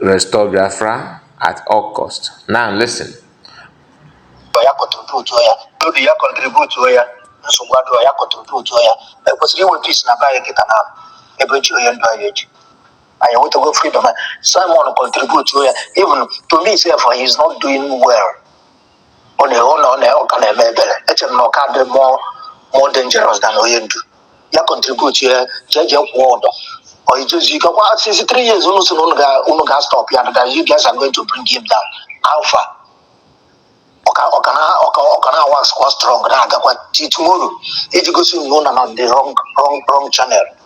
Restore Biafra at all cost. Now listen. ya contributuo ya n'obi ya contributuo ya nsogbu adịrọ ya contributuo ya e kwesịrị inwe peace na be anyị kịta na ebe e ji onye ndu anyị eji anyị enwetago freedom anyị. Simon contributuo ya even to me sef he is not doing well ọ na ọ na ọ na ọ ka na-eme ebere eche m na ọ ka dị more more dangerous than onye ndu ya contribute ya jee jee kwụọ ụdọ ọ ijezu ike kwa since three years unu sị na unu ga unu ga stop ya that you guys are going to bring him down how far ọ ka ọ ka na ọ ka ọ ka na-wax kwa strong na-agakwa till tomorrow iji gosi unu na na the wrong wrong wrong channel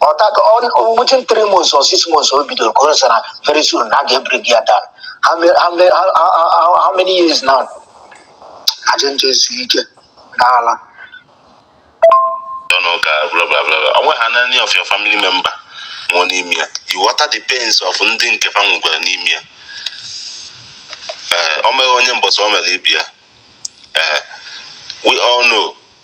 ọ teka within three months or six months o bidoro ka ọ sịrị very soon na a ga-ebring ya down how many, how, many, how, how, how, how many years now aja njọ ezu ike n'ala ọnụ ụka bla bla bla bla. onwe ha na any of your family member nwụọ n'ime ya ị wọta the pains of ndị nke fa nwụkwara n'ime ya ee o meghị onye mbọsị o mere ibe ya ee we all know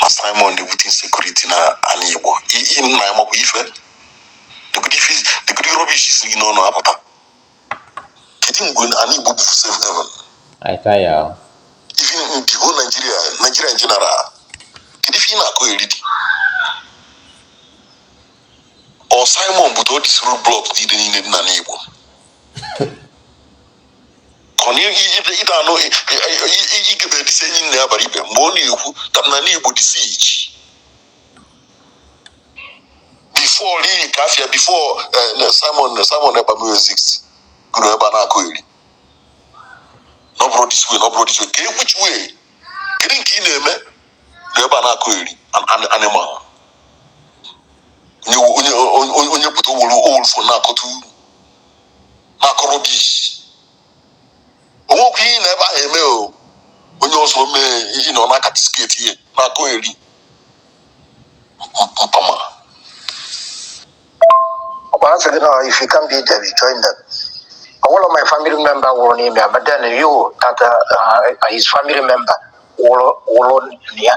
na Simon na-ebute insecurity na ala Igbo ihe nna ya makwa ife negodi rubbish si gị n'ọnụ apụta kedu mgbe ala Igbo bụ safe heaven even in the whole Nigeria in general kedu ife ị na-akọeri dị ọ Simon butere these roadblock niile niile dị n'ala Igbo ịda anụ igebe dịsị enyi nna ya bara ibe mgbe ọ na-ekwu ka ana Igbo dị siege before n'ihi ka afịa before eh, simon simon ebamezix gụrụ ebe a na-akọeri n'ọbụrụ this way n'ọbụrụ this way ka ekwuchiwe kedu nke ị na-eme na ebe a na-akọeri animal onye pụta owolu owolfo na-akọta uru na-akọ rubbish o nwekwa ihe na ebe ahụ eme o onye ọzọ mee ihe na ọ na-acastigate ya na-akọeri mpama ọ kwa a sị gị na if you can't beat them you join them one of my family member nwụrụ n'ime ya but then you that uh, uh, his family member nwụrụ nwụrụ na ya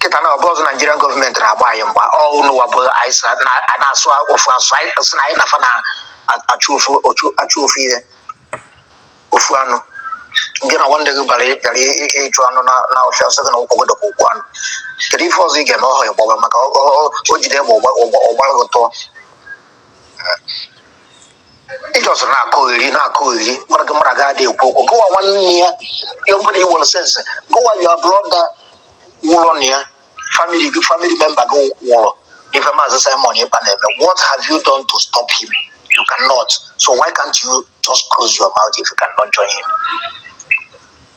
kịta na ọ bụrọzị Nigerian government na-agba anyị mgba ọ unuwa bụ anyị sị na a na-asụ ofu asụ anyị sị na anyị na fa na-achụ ofu ọchụ achụ ofu ihe ofu anụ gị na nwanne gị bara bịara ị- ị- ịchụ anụ na na ọfịa ọ sị gị na ụkwụ gị dị ka ụkwụ anụ kedu ife ọzọ ị ga-eme ọhụ ya gbọba maka ọ- ọ- ọ- o jide egbe ọ gba- ọ gba- ọ gbara gị tụọ ị just na-akọ eri na-akọ eri mara gị mara ga-adị ekwu okwu gụwa nwanne ya ya mgbe na i nwere sense gụwa your brother nwụrụ na ya family member gị nwụrụ ife maazị simon ekpa na-eme what have you done to stop him you cannot so why can't you just close your mouth if you cannot join him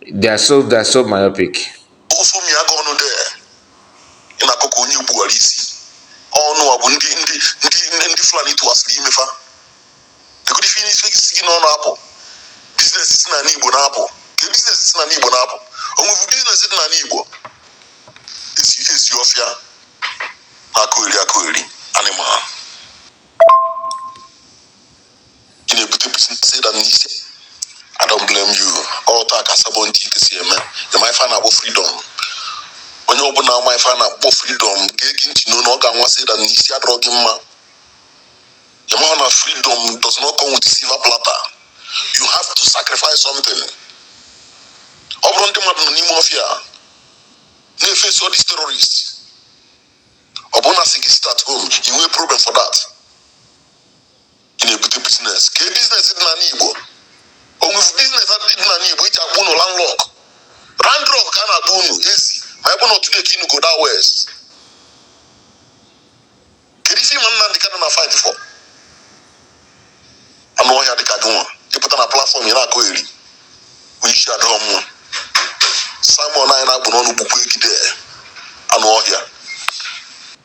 They are so they are so myopic. Ofu mi aga ọnụ de ị na-akọ ka onye gbuwara isi ọnụ a bụ ndị ndị ndị ndị Fulani tụwasịrị ime fa egodi fi n'isi si gị n'ọnụ apụ business si n'anị Igbo na-apụ kee business si n'anị Igbo na-apụ o nwefu business dị n'anị Igbo ezi ọfịa na-akọ eri akọ eri animal ị na-ebute bisi dam n'isi I don't blame you otu a ka sabo ntị ike si eme ị ma ife a na-akpọ freedom onye ọbụla ma ife a na-akpọ freedom ga-ege ntị n'onu gị nwa see that n'isi adịrọ gị mma ị ma na freedom does not come with silver platter you have to sacrifice something ọ bụrụ ndị mmadụ nọ n'ime ọfịa na-eface all these terrorists ọ bụrụ na a sị gị sit at home i nwee problem for that ị na-ebute business kee business dị n'anị igbo o nwefu business dị n'anị igbo e ji akpọ unu landlock randrock ka a na-akpọ unu ezi ma ebe na otu na-eke inu goda west kedu ife maazị nnamdị kanụ na-afight for anụ ọhịa dịka gị nwa ị pụta na platform a na-akọ eri onye isi adịghị mma simon a ị na-akpọ n'ọnụ gbukwa gị there anụ ọhịa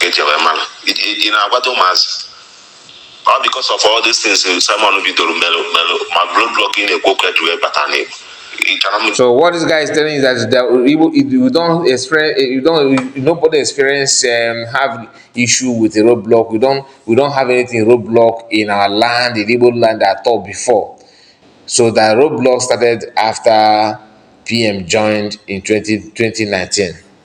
e ji wee mara ị na-agwado ụmụazị ọ because of all these things Simon bidoro merụ merụ ma roadblock ị na-ekwu okwu e ji wee bata n'Igbo So what this guy is telling us that, that you don't experience, you don't, nobody experience um, have issue with a roadblock. We don't, we don't have anything roadblock in our land, in Igbo land at all before. So the roadblock started after PM joined in 20, 2019.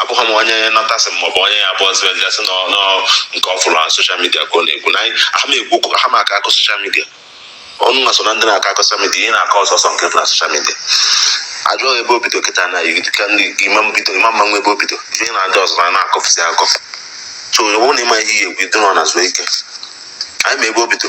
abụghị m onye nọtasị m maọbụ onye ya bụ ọzọ gasị nọ nọ nke ọ fụrụ na social media ka ọ na-ekwu na anyị aha m ekwu ha ma akọ akụkọ social media unu nwa so na ndị na-akọ akụkọ social media ihe ị na-akọ sọọsọ nke dị na social media a jụọ ebe o bido kịta na igi- ka ndị ima mbido ima mma nwa ebe o bido ihe na-adị ọzọ na na-akọfụsị akọfụ so ọ bụrụ na ị ma ihe ị ya-ekwu ịdị nọ na zuo ike anyị ma ebe o bido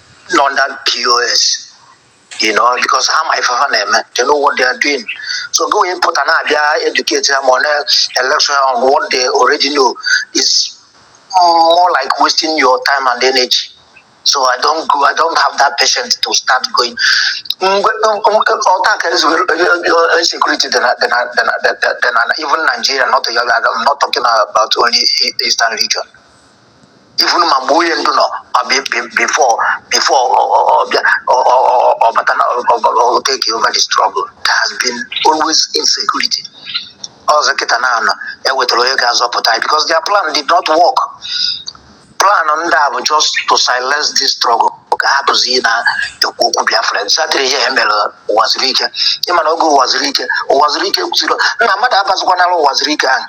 nọ under pos you know because ha ma ife ha na-eme they know what they are doing so gị wee pụta na-abịa educate ha ma ọ na election on what they already know is more like wasting your time and energy so i don't go i don't have that patience to start going ọta ka insecurity than, than, than, than, than even nigeria not, i'm not talking about only eastern region even ma mgbe onye ndu nọ ma before before ọ bịa ọ bata na ọ take over the struggle there has been always insecurity ọzọ kịta na anọ ewetara onye ga-azọpụta anyị because their plan did not work plan ndị a bụ just to silence this struggle ka hapụzie ikwu okwu biafra chetara ihe ha mere ụwazuruike ị ma na oge ụwazuruike ụwazuruike kwusiri na mmadụ abazikwanala ụwazuruike ahụ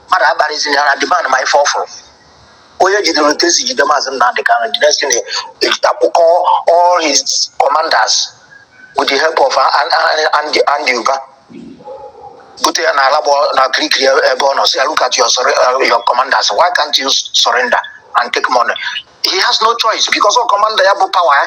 mmadụ abalịziri ha na demand ma ife ọfụrụ onye jidere otu esi jide maazị Nnamdi Kanu the next thing a kpọkọọ all his commanders with the help of Andy Andy Uba bute ya n'Alagbon na Kirikiri ebe ọ nọ sị look at your, uh, your commanders why can't you surrender and take money he has no choice because ọ commander ya bụ power ya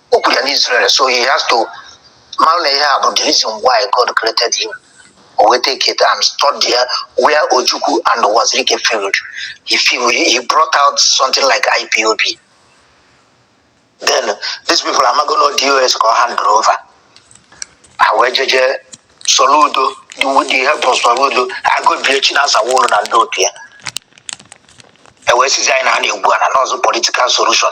o kwuru ya n'Israel so he has to mara na ihe a bụ the reason why God created him o wee take it and study ya where Ojukwu and Uwazuruike failed he failed he brought out something like IPOB then these people amago na ọ DOS ka ọ hand over ha wee jeje Soludo the with the help of Soludo agobie Chinasa Nworu na ndị otu ya e wee sịzi anyị na ha na-egwu ana n'ụzọ political solution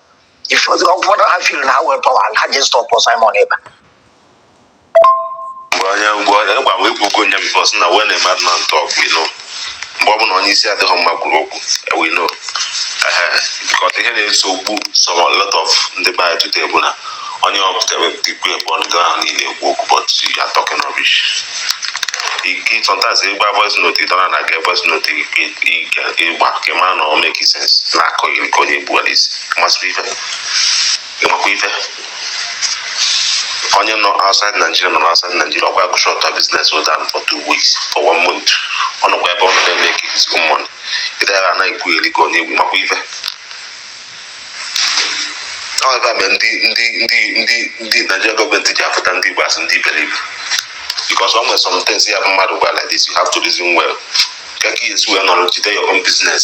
if ọ bụ na ha feel na ha nwere power ha ji stop Simon Ekpa mgbe onye mgbe onye gwa m ekwugo onye because na when a madman talk we know mgbe ọ bụla onye isi adịghị mma kwuru okwu eh, we know Ehe, because ihe na-ese okwu some a lot of ndị be anyị today bụ na onye ọpụta wepụta ikwu ekpe ọnụ gị ahụ niile ekwu okwu but you are talking rubbish ike sometimes ịgba voice note ịdọna na ga voice note ike ike ịgba ka ịma na ọ make sense na-akọ gị nke onye egbuwara isi masịrị ife ịmakwa ife onye nọ outside Nigeria nọ outside Nigeria ọ gwa gị shut your business down for two weeks for one month ọ nọkwa ebe ọ nọ na-emake his own money ịdara anaghị ekwu eri ka onye egbu makwa ife ọ bụ ya mere ndị ndị ndị ndị ndị Naijiria gọọmenti ji afụta ndị Igbo as ndị iberibe because ọ nwere some things ya bụ mmadụ gwa like this you have to reason well kee ka i si wee nọrọ jide your own business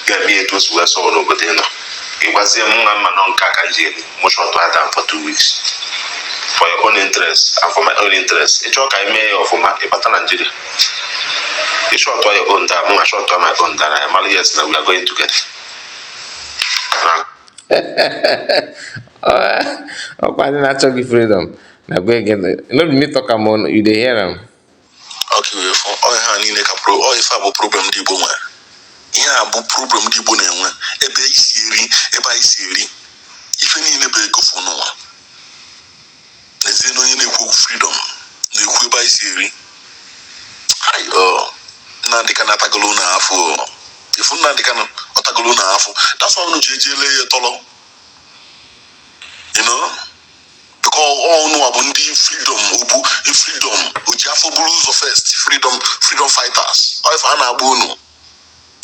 ga-eme etu o si wee sọọ n'obodo ị nọ ịgwazie mụnwa ma na ọ nke a ka m ji eri mụ shọtụọ ya down for two weeks for your own interest and for my own interest ị chọọ ka anyị mee ya ọfụma ịbata Naijiria ị shọtụọ your own down mụ a shọtụọ my own down anyị amara yes na we are going together ọkwa ndị na-achọ gị freedom na gwa ege no be me talk am o you dey hear am ọhịa ha niile ka ife a bụ problem ndị Igbo nwere ihe a bụ problem ndị Igbo na-enwe ebe i si eri ebe anyị si eri ife niile bụ ego afọ unu nwa n'ezie na onye na-ekwu okwu freedom na-ekwu ebe anyị si eri Nnamdi Kanu atagolo unu afọ if Nnamdi Kanu tagolo unu afọ that's why unu ji eji ele ya tọrọ because unu abụ ndị freedom ọ bụ freedom oji afọ buru ụzọ first freedom freedom fighters ọ ife a na-akpọ unu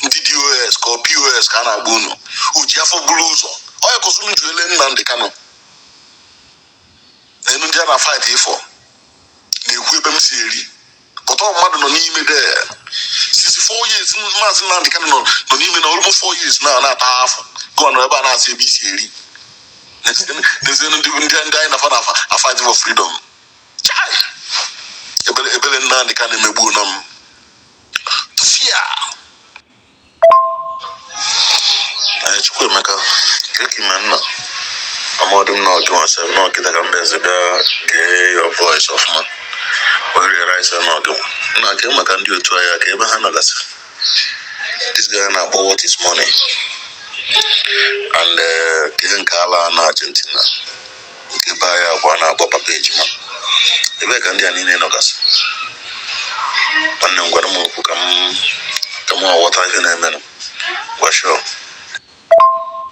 ndị DOS ka ọ POS ka a na-akpọ unu oji afọ buru ụzọ ọya kọsụnụ ji ele Nnamdi Kanu na enu ndị a na-afight for na-ekwu ebe m si eri but mmadụ nọ n'ime DSS four years maazị Nnamdị Kanụ nọ nọ n'ime almost four years now na-ata afụfụ gị nọ ebe a na-asị ebe i si eri n'ezie ndị ndị ndị anyị na fa na fa afight for freedom chai ebele ebele Nnamdị Kanụ emegbuona m tụfịa Ee, Chukwuemeka kee ka i me nna amadị m n'ọ gị nwa asị m n'ọ gị daga mba eze bịa gee your voice ọfụma wee realize n'ọ gị nwa nna kee maka ndị otu anyị kee ebe ha nọgasị this guy na-akpọ what is money and eh, ihe nke ala na Argentina Nke be anyị ahụ a na-akpọ papa ejima ebee ka ndị a niile nọgasị nwanne m gwara m okwu ka m ka m ghọta ihe na-emenụ gwashọ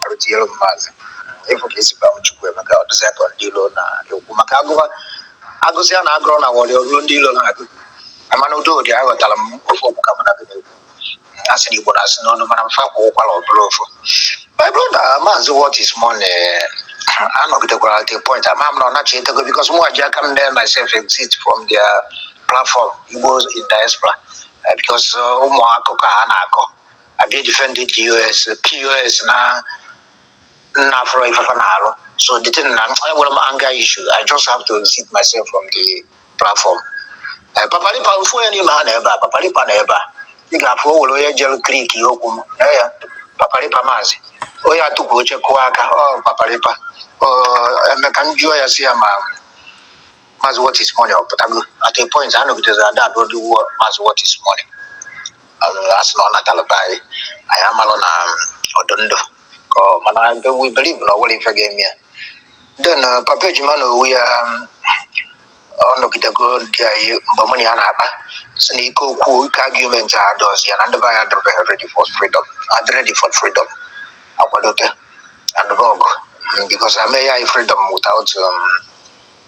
arụtinyere m maazị ị fụ ka e si gba m Chukwuemeka ọ dịzị ka ndị ilo na-ekwu maka agụba agụsị a na-agụrụ na wọrị ruo ndị ilo na-agụ mana udo dị aghọtara m ofe okwu ka mụ na gị na-ekwu a sị na igbo na-asị n'ọnụ mana mfa kwụ ụkwara ọbụla ofu my brother maazị what is money anọgidekwara at a point ama m na ọ nachitego because mụ ji aka m dee myself exit from their platform igbo in diaspora eh, because uh, ụmụ akụkọ a ha na-akọ I dey defend DOS DOS na nna afụrọ ife fa na-alụ so the thing na enwere m anger issue I just have to exit myself from the platform ee papalipa ofu onye n'ime ha na ebe a papalipa na ebe a ị ga-afụ o were onye jere creek ihe okwu m na ya papalipa maazị onye atụkwa oche kụọ aka ọ papalipa o mee ka m jụọ ya sị ya ma maazị what is money ọ pụtago at a point ha nọgidere ada abụọ dị wuo maazị what is money a sị na ọ natara be anyị anyị amalụ na ọ dụ ndụ Oh, mana I believe na o nwerọ ife ga-eme ya. Then uh, Papa Ejima onwe ya um, ọ nọgidego ndị anyị mgbe mụ na ya na-akpa sị na ike okwu ike argument adịrọzi ya na ndị be anyị adịrịbeghị ready for freedom adị ready for freedom akwadote adịrị ọgụ Mm, because na e nye anyị freedom without um,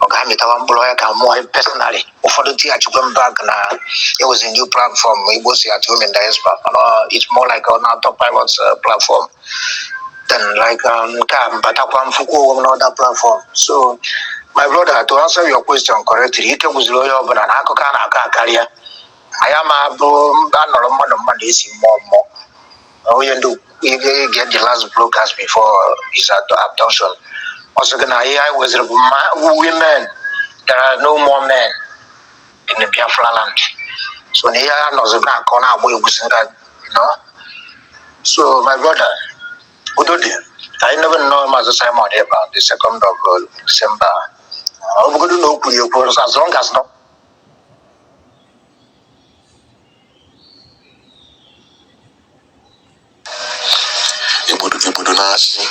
ọ ga-amịtawa mkpụrụ ya ka mụwa personally ụfọdụ tighachikwa m back na it was a new platform Igbos at home and diaspora mana ọ- it's more like an autopilot uh, platform then like um, nke a m batakwa m fụkwa onwe m another platform so my brother to answer your question correctly ike gwụziri onye ọbụla na akụkọ a na-akọ akarịa ma ya ma bụ mba nọrọ mmadụ mmadụ esi mmụọ mmụọ onye ndu ihe get the last broadcast before his ad- abduction ọ sị gị na ihe anyị nweziri bụ ma women there are no more men in the biafra land so na ihe a nọzi na-akọ na-agba egwu si nga no so my brother udo dị anyị nebe nnọọ maazị simon ekpa the second of uh, december ọ bụgodu na o kwuru ya ekwu as long as no igbudu igbudu na-achị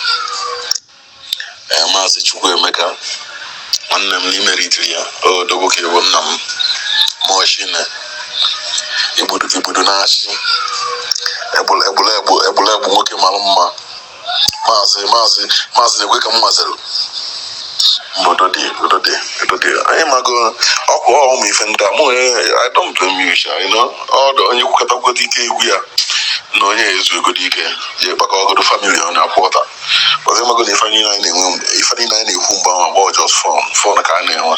ee maazị Chukwuemeka nwanne m n'ime Eritrea odogwu ka ị bụ nna m machine igbudu igbudu na-achị egbula egbula egbu egbula egbu nwoke mara mma maazị maazị maazị na-ekwe ka m mazịrị obodo dị obodo dị obodo dị anyị mago ọkwa ụmụ ife ndị a mụ I don't blame you sha you know ọdụ onye kwukọtakwuo ike agwụ ya na onye ezuegodi ike ya kpakọọgodu famili ọ na-akwụ ọta ọzọ mago na ife niile anyị na-enwe ife niile anyị na-ekwu mgbe ahụ ọ bụ just fun fun ka a na-enwe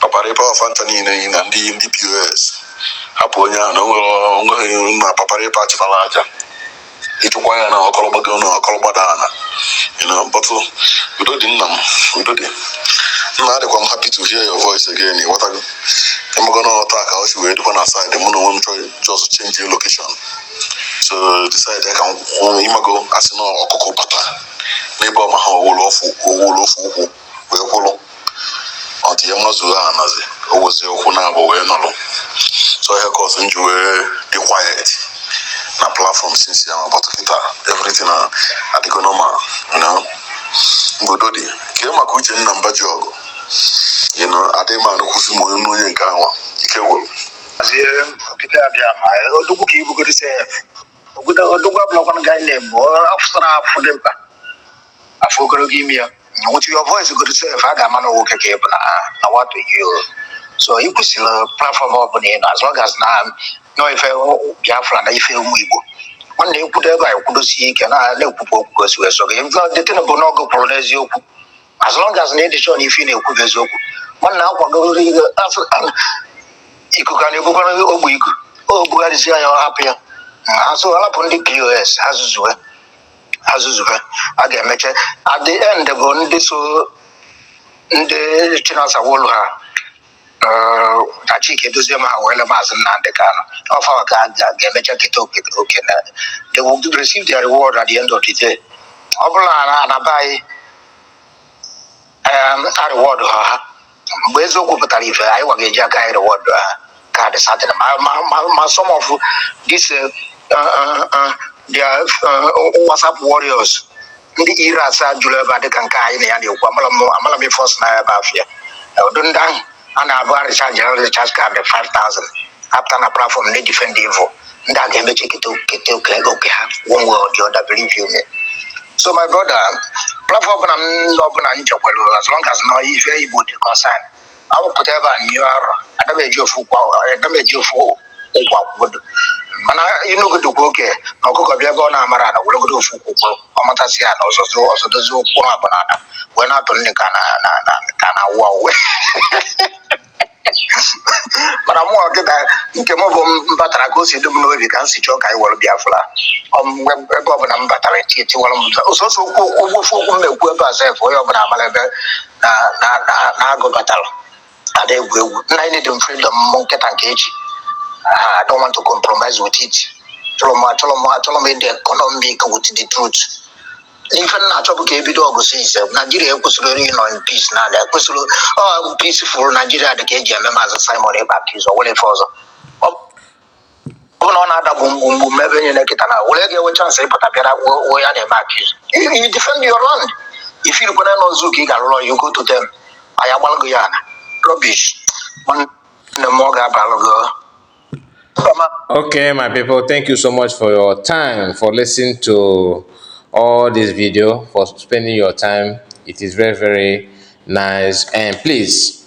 papara ịpa ọ fa ncha niile yi na ndị ndị pos hapụ onye ahụ na o nwere o nweghị na papara ịpa chịtara aja ị chụkwa ya na ọkọlọgbago na ọkọlọgbada ala you know but uh, udo dị nna m udo dị nna adịkwa m happy to hear your voice again ịghọtago ịmago na otu a ka o si wee dịkwa na side mụ na onwe m chọọ just change the location so decide ka m kwụ ịmago a sị na ọkụkọ bata n'ebe ọ maha o welu ofu o welu ofu ụkwụ wee kwụrụ until ya amazuo ana o wezi ụkwụ naabọ wee nọrọ so ihe cause m ji wee dị quiet na platform since ya but kịta everything na adịgo normal you know obodo dị kee maka uchenna mbajiọgụ you know adịghị m anụkwụzi ma onye onye nke anwa ike gwụrụ Azie kịta abịa ma odogwu ka ị bụgodu sef odogwu abụrọkwana guy name ọ fụsara a fụ dimkpa a fụ ogologo imi ya with your voice godu sef a ga-ama na nwoke ka ị bụ na na what you you so ị kwụsịrị platform ọbụla ị nọ as long as na ọ ife biafra na ife ụmụ igbo nwanne ekwudo ebe a ekwudosie ike na na-ekwupụ okwu gosi wee so gị ndị tinubu n'ọgụ kwuru n'eziokwu as long as na ị dị sure na ife ị na-ekwu bụ eziokwu nwanne kwudoro ihe afụ ikuku a na-ebukwara ogbe iku o bugharịzi anya ọ hapụ ya ha so hapụ ndị pos ha zuzue ha zuzube a ga-emeche at the end bụ ndị so ndị chinasa nworu ha eh, na chika edoziem ha weele maazị nnamdị kanụ ọ fa ka a ga- ga-emecha keta oke oke na they will receive their reward at the end of the day ọ bụrụ na na be anyị em, a reward ha ha mgbe eziokwu pụtara ife anyị wa ga-eji aka anyị reward ha ka dị certain ma ma ma ma some of this uh, uh, uh, their uh, whatsapp warriors ndị e-rats a juru ebe a dịka nke anyị na ya na-ekwu amala m amala m ife ọsụ na ebe afịa ụdị ndị ahụ a na-abụ a recharge recharge card 5000 apụta na platform na-defend evil ndị a ga-emecha kete kete oke oke ha one way or the other believe you me so my brother platform ọbụla m ndị ọbụla m jekwere as long as na ife igbo dị concern awụpụta ebe a nyụọ arọ ada m eji ofu ụkwụ ada m eji ofu ụkwụ mana ị nụgodokwa oke na ọkụkọ bịa ebe ọ na-amarọ ala weregodo ofu ụkwụ kwụrụ ọ matasịa ana ọ zọzụ ọ zọdozie ụkwụ abụọ n'ala wee na-atụ nni ka na na na ka na-awụ awụ mana mụwa kịta nke m bụ m batara ka o si dị m n'obi ka m si chọọ ka anyị were biafra Ọ m- mgbe- ebe ọbụla m batara eti etiwara m ụzọ. sọsọ okwu okwu ofu okwu m na-ekwu ebe a sef onye ọbụla amara ebe na na na na agụ batara ada egwu egwu nna anyị need freedom mụ nke taa nke echi Ah, I don't want to compromise with it chọrọ m achọrọ m achọrọ m ịdị economic with the truth ife m na-achọ bụ ka e bido ọgụ since naijiria ekwesịrọ ịnọ in peace na ada ekwesịrọ peaceful naijiria dị ka e ji eme maazị simon ekpa accuse o nwere ife ọzọ ọ bụ na ọ na-ada gbum gbum gbum ma ebe niile kịta na were ga-enwe chansị ịpụta bịara wuo wuo ya na-eme accuse you defend your land ị feel kwanụ na zoo ka ị ga-alụrụ you go to them anyị agbalụ gị ya na rubbish nwanne m ọ ga-abalụ gị ọ. Mba, ma- Okay, my people, thank you so much for your time, for listening to all this video, for spending your time. It is very, very nice. And please,